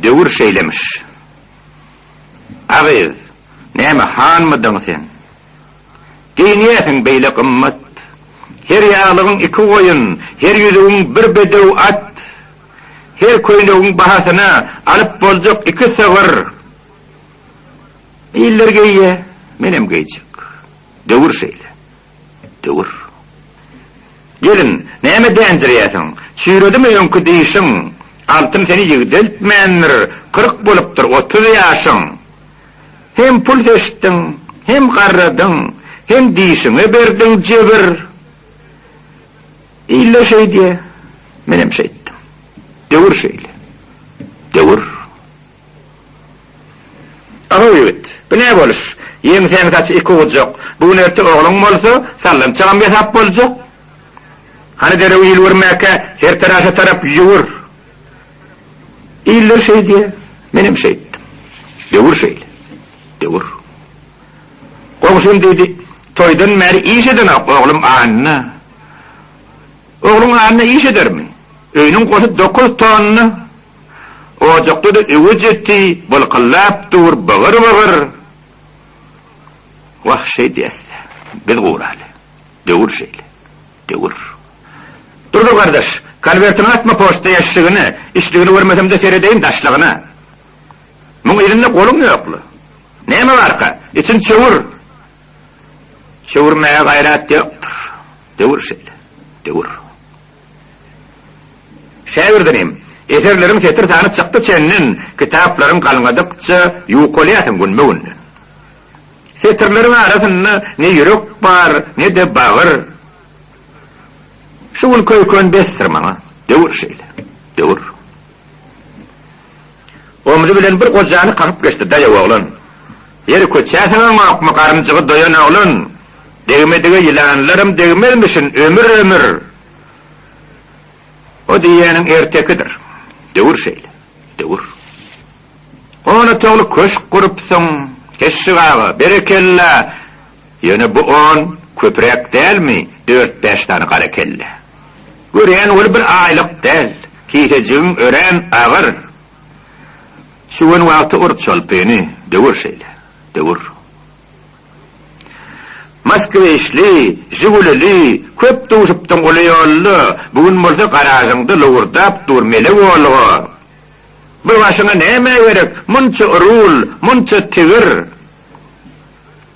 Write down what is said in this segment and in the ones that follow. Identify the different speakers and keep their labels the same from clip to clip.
Speaker 1: Döwür şeýlemiş. A gyz, näme hanmydyň sen? Geýinýäsiň beýle gymmat. Her ýaglygyň iki goýun, her ýüzügiň bir bedew at. Her köýnegiň bahasyna alyp boljak iki sygyr. Iller geýýär, menem geýjek. Döwür şeýle. Döwür. Gelin, näme dänjirýärsiň? Çüýredimi öňki diýşiň? Altyn seni ýigdeltmändir, kyrk bolupdyr otuz ýaşyň. Hem pul seçdiň, hem garradyň, hem diýşiňe berdiň jebir. Iller şeýdýä, menem şeýtdim. Döwür şeýle. Döwür. Abaw ýigit, bu ne boluş? Ýeňsäň saç iki ugurjak. Bu gün erte ogluň bolsa, sallançagam ýasap boljak. Hany derew il görmäkä, her taraşa tarap ýüwür. Iller şeýdýä, menem şeýtdim. Döwür şeýle. Döwür. Goňşym diýdi, Toýdan bäri iş edenok, oglum Anna. Ogluň Anna iş edermi? Öýüniň goşy dokuz tonna Ojakda-da öwüt-eti bylkyldap dur, bygyr-bygyr. Wah, şeýdýäs-dä, biz guraly. Döwür şeýle. Döwür. Durdy gardaş, konwertiňi atma poçta ýaşşigine, içdigini görmesem-de seredeýin daşlygyna. Muň yzynda goluň ýok-la. Näme barka, içini çöwür. Çöwürmäge gaýrat ýokdur. Döwür şeýle. Döwür. Käbirden hem, eserleriň setir sany çykdy çenden, kitaplaryň galňadykça ýukalýarsyň günbe-günden. Setirleriň arasynda ne ýürek bar, ne-de bagyr. Şu gün köýken besdir maňa. Döwür şeýle, döwür. Omzy bilen bir gojany kakyp geçdi, Daýaw oglan, ýeri köçäseňaňokmy, garynjygy doýan oglan, degmedige ýylanlaram degmezmişin, ömür, ömür! O diýýäniň ertekidir. Döwür şeýle. Döwür. Onatogly köşk gurupsyň, Keşşik aga, berekella! Ýöne bu on köpüräk dälmi, dört-bäş sany gara kelle. Görýän ol bir aýlyk däl, kisejigiň örän agyr. Şu gün wagty ur çolpyny, döwür şeýle, döwür. Moskwiçli, žigulili köp duşupdyň uly ýolda, bu gün bolsa garažyňda lowurdap dur mele Wolga. Bir başyňa näme gerek, munça rul, munça tigir.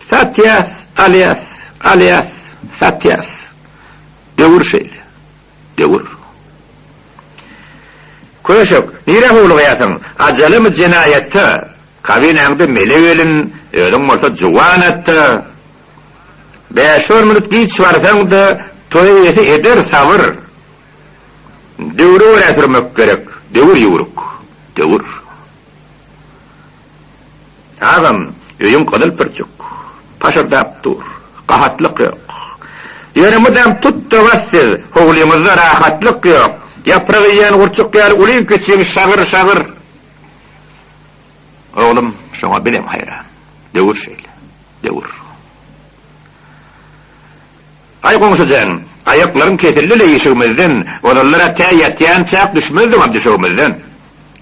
Speaker 1: Satýas, alýas, alýas, satýas. Döwür şeýle. Döwür. Köşek, nirä howlugýarsyň? Ajalymy jenaýatda. Kabinaňda mele gelin, özüň bolsa juwan atda. Bäş-on minut giç barsaň-da, toý eýesi eder, sabyr. Döwri görä sürmek gerek. Döwür ýüwrük. Döwür. Agam, öýüň gyzyl pürçük. Paşyrdap dur. Gahatlyk ýok. Ýöne mydam tut-da bas siz, howlyňyzda rahatlyk ýok. Ýaprak iýen gurçuk ýaly ulyň-kiçiň şagyr-şagyr. Oglum, şoňa bizem haýran. Döwür şeýle. Döwür. Aý goňşy jan, aýaklaryň kesildi-le işigimizden, ozallar-a tä ýatýançak düşmezdiňam düşegimizden.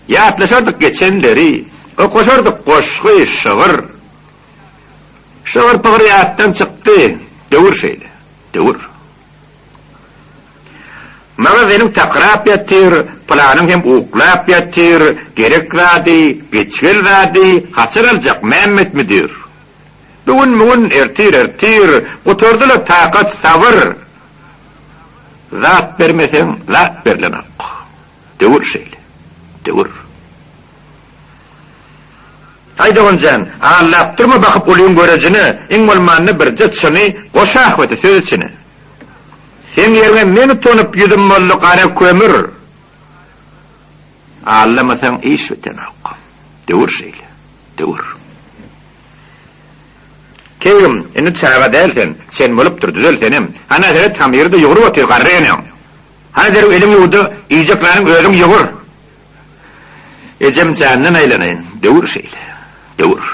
Speaker 1: Ýatlaşardyk geçenleri, okaşardyk goşgy, şygyr. Şygyr-pygyr ýatdan çykdy, döwür şeýle, döwür. Maňa zenin takyrap ýatyr, pylanyň hem uklap ýatyr, gerek zady, geçgel zady haçan aljak Mämmet müdir? Bigün-migün, ertir-ertir, Gutardy-la takat, sabyr. Zat bermeseň, zat berlenok. Döwür şeýle, döwür. Aý, dogan jan, allap durma bakyp ulyň görejine, iň bolmanda birje çyny goş ahbeti söz içine. Seň ýeriňe men utanyp ýüzüm boldy gara kömür. Allamasaň iş bitenok. Döwür şeýle. Döwür. Keýgim, indi çaga däl sen. Çen bolupdyr, düzel senem. Hana seret, hamyry-da ýugrup otyr garry eneň. Hana derrew eliňi ýuw-da, iýjek nanyňy özüň ýugur. Ejem jandan aýlanaýyn. Döwür şeýle. Döwür.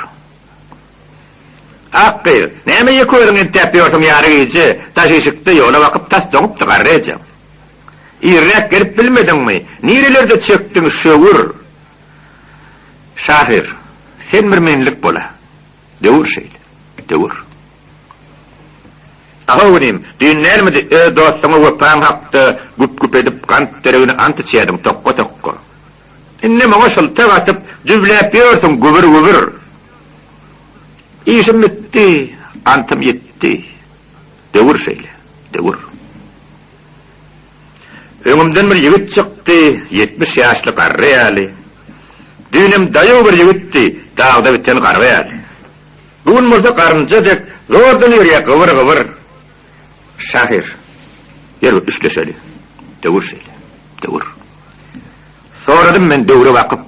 Speaker 1: Ak gyz, näme ýeke özüň entäp ýörsüň ýary gije, daş işikde ýola bakyp tas doňupdy garry ejeň. Irräk gelip bilmediňmi? Nirelerde çekdiň, şöwür? Şahyr, sen bir menlik bol-a. Döwür şeýle. Döwür. Ahow inim, düýn dälmidi öz dostuňa wepaň hakda güp-güp edip gant deregine ant içýärdiň, tokga-tokga. Indem oňa şyltak atyp, düwläp ýörsiň, gübür-gübür. Işim bitdi, antym ýitdi. Döwür şeýle. Döwür. Öňümden bir ýigit çykdy, ýetmiş ýaşly garry ýaly. Düýnem daýaw bir ýigitdi, dagda biten garga ýaly. Bu gün bolsa garynja dek zordan ýörýär gybyr-gybyr. Şahyr, ýör bir üstleşeli. Döwür şeýle, döwür. Soradym men döwre bakyp.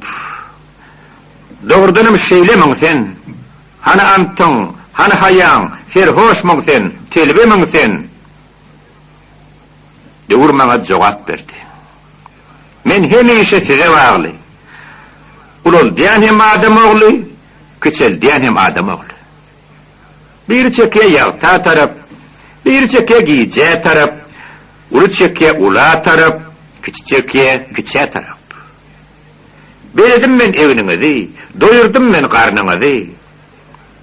Speaker 1: Dogrudanam şeýlemiň sen? Hany antyň, hany haýaň, serhoşmyň sen, telbemiň sen? Döwür maňa jogap berdi. Men hemişe size bagly. Ulaldýan hem adam ogly, kiçeldýän hem adam ogly. Biri çekýä ýagta tarap, biri çekýä gijä tarap, uly çekýä ula tarap, kiçi çekýä kiçä tarap. Bezedim men egniňizi, doýurdym men garnyňyzy,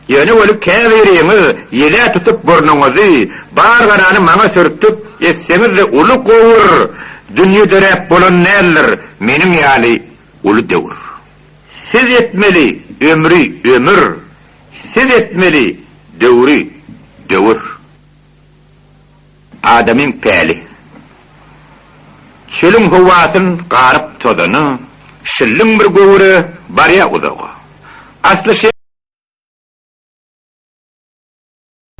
Speaker 1: Ýöne weli käbiriňiz ýele tutup burnuňyzy, bar garany maňa sürtüp, etseňiz-de uly gowur dünýe döräp bolan däldir, meniň ýaly uly döwür. Siz etmeli ömri ömür, siz etmeli döwri döwür. Adamyň päli. Çölüň howasyn garyp tozany, şilliň bir göwre barýa uzaga. Asly şeý.